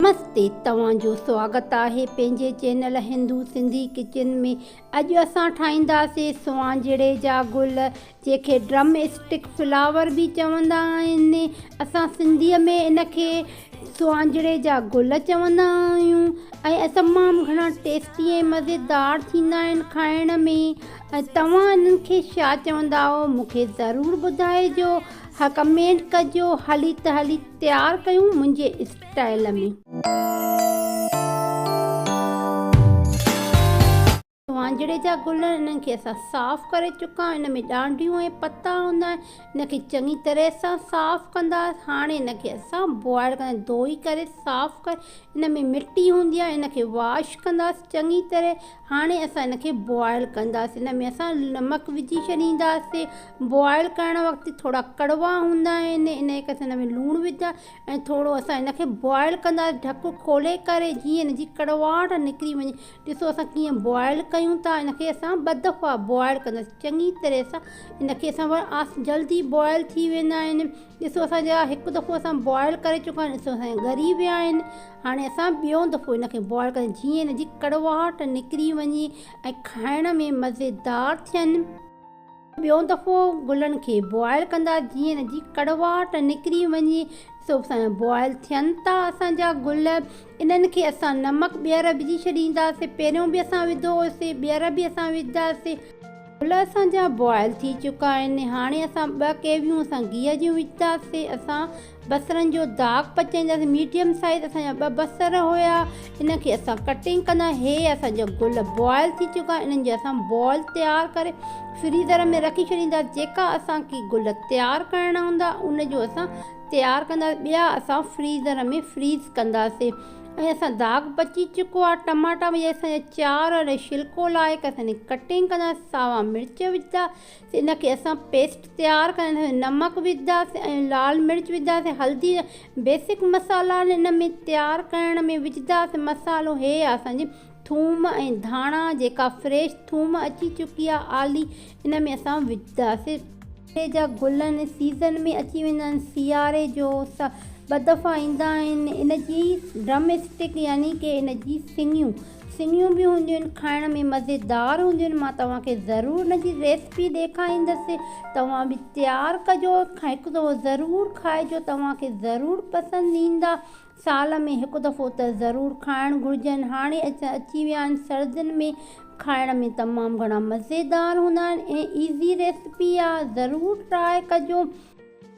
نمستي توهان جو سواگت آهي پنهنجي چينل هندو سنڌي ڪچن ۾ اڄ اسان ٺاهينداسي سوانجهڙي جا گل جنهن کي ڊرم اسٽڪ فلاور به چوندا آهن اسان سنڌي ۾ ان کي سوانجهڙي جا گل چوندا آهيون ۽ تمام گهڻا ٽيسٽي ۽ مزيدار ٿيندا آهن کائڻ ۾ توهان انهن کي ڇا چونداؤ مون کي ضرور ٻڌائجو ها ڪمينٽ ڪجو هلي ته هلي تيار ڪيون منهنجي اسٽائيل ۾سوانجهڙي جا گل انهن کي اسان صاف ڪري چڪا ان ۾ ڏانڊيون ۽ پتا هوندا آهن ان کي چڱي طرح سان صاف ڪندا هاڻي ان کي اسان بوائل ڪنداسين ڌوئي ڪري صاف ڪري ان ۾ مٽي هوندي آهي ان کي واش ڪنداسين چڱي طرح هاڻي اسان ان کي بوائل ڪنداسين ان ۾ اسان نمڪ وجهي ڇڏينداسين بوائل ڪرڻ وقت ٿورا ڪڙوا هوندا آهن انهي ڪري اسان ان ۾ لوڻ وڌ ۽ ٿورو اسان ان کي بوائل ڪندا ڍڪ کولي ڪري جيئن ان جي ڪڙواهٽ نڪري وڃي ڏسو اسان ڪيئن بوائل ڪيون ٿا ان کي اسان ٻه دفعا بوائل ڪنداسين چڱي طرح سان ان کي اسان آس جلدي بوائل ٿي ويندا آهن ڏسو اسان جا هڪ دفعو اسان بوائل ڪري چڪا آهن ڏسو اسان جا ڳري ويا آهن هاڻي اسان ٻيون دفعو ان کي بوائل ڪنداسين جيئن ان جي ڪڙواهٽ نڪري وڃي ۽ کائڻ ۾ مزيدار ٿين ٻيو دفعو گلن کي بوائل ڪندا جيئن ان جي ڪڙواهٽ نڪري وڃي سو بوائل ٿين ٿا اسان جا گل انهن کي اسان نمڪ ٻيهر وجهي ڇڏينداسين پهريون به اسان وڌو هوسي ٻيهر به اسان وجهداسين. گل اسان جا بوائل ٿي چڪا آهن هاڻي اسان ٻه ڪيويون اسان گيهه جون وجهداسين اسان بصرن جو داغ پچائين داسين ميڊيم سائيز اسان جا ٻه بصر هيا ان کي اسان ڪٽنگ ڪندا هي اسان جا گل بوائل ٿي چڪا انهن جي اسان بال تيار ڪري فريزر ۾ رکي ڇڏيندا جيڪا اسان کي گل تيار ڪرڻا هوندا ان جو اسان تيار ڪندا ٻيا اسان فريزر ۾ فريز ڪندا سين ۽ اسان داغ پچي چڪو آهي ٽماٽا وجهي اسان جا چار اڙي شلڪو لائي ڪري اسان جي ڪٽنگ ڪندا ساوا مرچ وجهندا ان کي اسان پيسٽ تيار ڪرڻ لاء نمڪ وجهنداسين ۽ لال مرچ وجهنداسين هلدي بيسڪ مصالحا آهن ان ۾ تيار ڪرڻ ۾ وجهنداسين مصالحو هي آهي اسان جي ٿوم ۽ ڌاڻا جيڪا فريش ٿوم اچي چڪي آهي آلي ان ۾ اسان وجهنداسين. سياري جا گل ان سيزن ۾ اچي ويندا آهن سياري جو ٻه دفعا ايندا آهن ان جي ڊرم اسٽڪ يعني ڪي ان جي سنڱيون سنيون به هونديون آهن کائڻ ۾ مزيدار هونديون آهن مان توهان کي ضرور ان جي ريسپي ڏيکاريندس توهان به تيار ڪجو ۽ هڪ دفعو ضرور کائجو توهان کي ضرور پسند ايندا سال ۾ هڪ دفعو ته ضرور کائڻ گهرجن هاڻي اچي ويا آهن سردين ۾ کائڻ ۾ تمام گهڻا مزيدار هوندا آهن ۽ ايزي ريسپي آهي ضرور ٽراء ڪجو.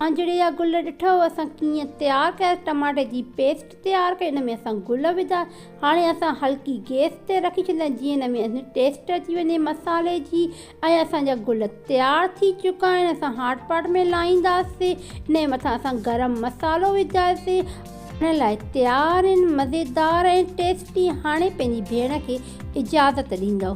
آنجڙي جا گل ڏٺئو اسان ڪيئن تيار ڪيا ٽماٽي جي پيسٽ تيار ڪئي ان ۾ اسان گل وڌا هاڻي اسان هلڪي گيس تي رکي ڇڏيندا آهن جيئن ان ۾ ٽيسٽ اچي وڃي مصالي جي ۽ اسان جا گل تيار ٿي چڪا آهن اسان هاٽ پاٽ ۾ لائينداسين ان جي مٿان اسان گرم مصالو وجهنداسين هاڻي لاء تيار آهن مزيدار ۽ ٽيسٽي هاڻي پنهنجي ڀيڻ کي اجازت ڏيندو.